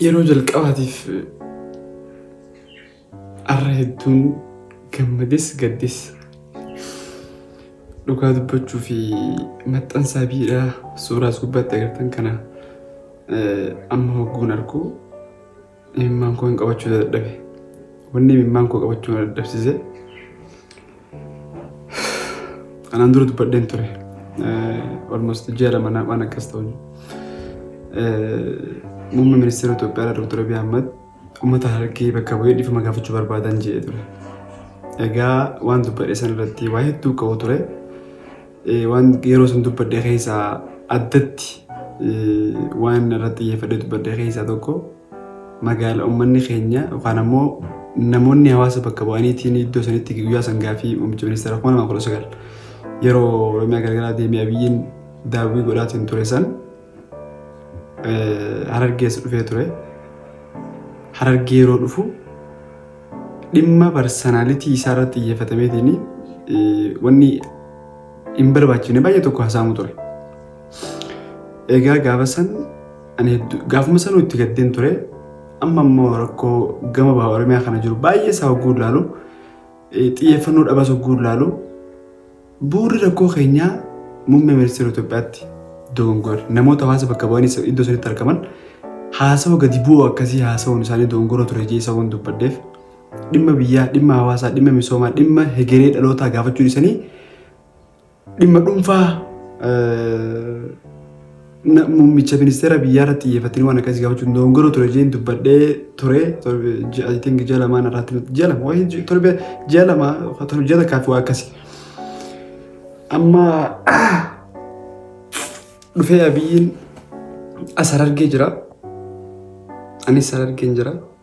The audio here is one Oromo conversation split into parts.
Yeroo jalqabaatiif arra hedduun gammades gaddes dhugaa dubbachuu fi maxxansaa biidhaa suuraas gubbaatti agartan kana amma hogguun argu Imimmaan koo hin qabachuu dadhabe. Wanni imimmaan koo qabachuu na dadhabsiise kanaan dura dubbadheen ture. Olmost ji'a lama naa waan akkas ta'u. Muummee ministeera Itoophiyaa Dr. Abiy Ahmad uummata harargee bakka bu'ee dhiifama gaafachuu barbaadan jedhee ture. Egaa waan dubbadhe san irratti waa hedduu ka'u ture. Waan yeroo sun dubbadhe keessaa addatti waan irratti xiyyeeffadhee dubbadhe keessaa tokko magaala uummanni keenya yookaan ammoo namoonni hawaasa bakka bu'aniitiin iddoo sanitti guyyaa san gaaffii muummicha ministeera kuma lamaa kudha sagal yeroo Oromiyaa garagaraa deemee abiyyiin daawwii godhaatiin ture san Harargees dhufee ture. Harargee yeroo dhufu dhimma parsanalitii isaa irratti xiyyeeffatameetiin wanni hin barbaachifne baay'ee tokko haasa'amu ture. Egaa gaafa san ani hedduu gaafuma sanuu itti gaddeen ture. Amma immoo rakkoo gama baha Oromiyaa kana jiru baay'ee isaa hogguu ilaalu xiyyeeffannoo dhabas hogguu ilaalu Bu'urri rakkoo keenyaa Muummee Ministeera Itoophiyaatti dogongora. Namoota hawaasa bakka bu'anii sa- iddoo sanitti argaman haasawa gadi bu'oo akkasii haasawuun isaanii dogongora ture jee isa waan dubbadheef dhimma biyyaa, dhimma hawaasaa, dhimma misoomaa, dhimma hegeree dhalootaa gaafachuu dhiisanii dhimma dhuunfaa eh, Na- Muummicha ministeera biyyaarratti xiyyeeffatanii waan akkasii gaafachuu hin dogoggoruu ture jeen dubbadhee ture torbe- ji- I think ji'a lamaan irratti natti- ji'a lama wayii ji- torbe ji'a lama torbe ji'a takkaa fi waa akkasii. Amma dhufee abiyyiin as harargee jira. Anis harargeen jira.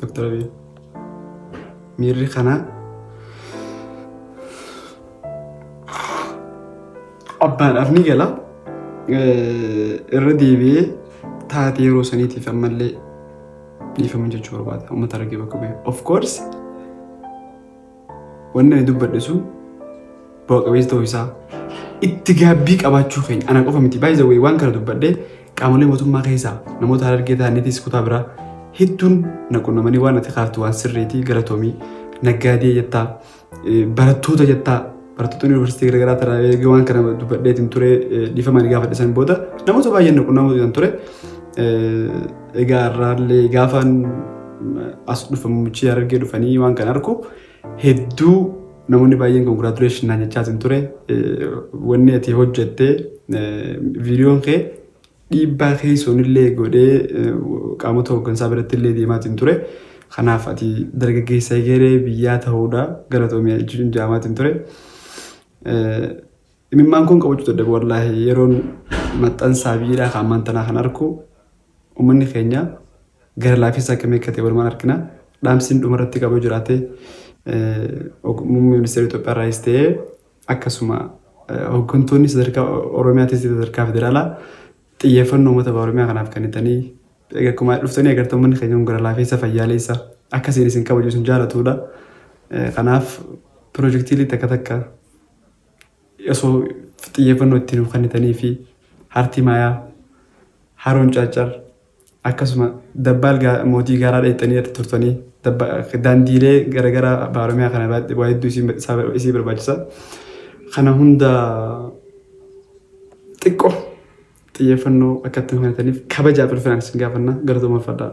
Doktar Abiy, miirri kana abbaadhaaf ni gala. Irra deebi'ee taatee yeroo saniitiif ammallee dhiifama jechuu barbaada. Uummata argee bakka bu'e. Of course Wanni ani dubbadhe sun bu'a qabeessa ta'uu isaa itti gaabbii qabaachuu keenya ana qofa miti baay'ee zawwee waan kana dubbadhe qaamolee mootummaa keessaa namoota harargee ta'aniitis kutaa biraa hedduun na qunnamanii waan ati kaaftu waan sirriitii galatoomii naggaadee jettaa eh, barattoota jettaa barattoota yuunivarsiitii garaagaraa taraa eegee waan kana dubbadheetiin ture eh, dhiifamaan gaafadhe san booda namoota baay'een na qunnamuu ture. Eh, Egaa har'aallee gaafaan as dhufa muummichi Harargee dhufanii waan kan argu hedduu namoonni baay'een congratulation naan jechaa hin ture. Wanni ati hojjette viidiyoon kee dhiibbaa keessoon illee godhee qaamota hooggansaa biratti illee deemaa hin ture. Kanaaf ati dargaggeessa egeree biyyaa ta'uudha galatoomi jechuun jaamaa hin ture. Imimmaan kun qabachuu dadhabe wallaahi yeroon maxxansaa biyyiidhaa kan ammaan tanaa kan arku uummanni keenya gara laafiinsa akkamii akka ta'e walumaan argina. Dhaamsiin dhumarratti qabuu jiraate muummee ministeera Itoophiyaa irraayis ta'ee akkasuma hooggantoonni sadarkaa Oromiyaatis sadarkaa federaalaa xiyyeeffannoo uummata Oromiyaa kanaaf kennitanii akkuma dhuftanii agartan uummanni keenya kun gara laafiinsa fayyaaleessa akkasiin isin kabaju isin jaalatudha. Kanaaf pirojektiilee takka takka osoo xiyyeeffannoo itti nuuf kennitanii fi hartii maayaa haroon caaccar akkasuma dabbaal gaa- mootii gaaraa dheettanii irra turtanii dabba- daandiilee garagaraa baaramiyaa kana irratti waa hedduu isin- isaa bar- isii barbaachisa kana hunda xiqqoo xiyyeeffannoo akka itti nuuf kennitaniif kabajaaf ulfinaan isin gaafanna galatoomaa fadhaa.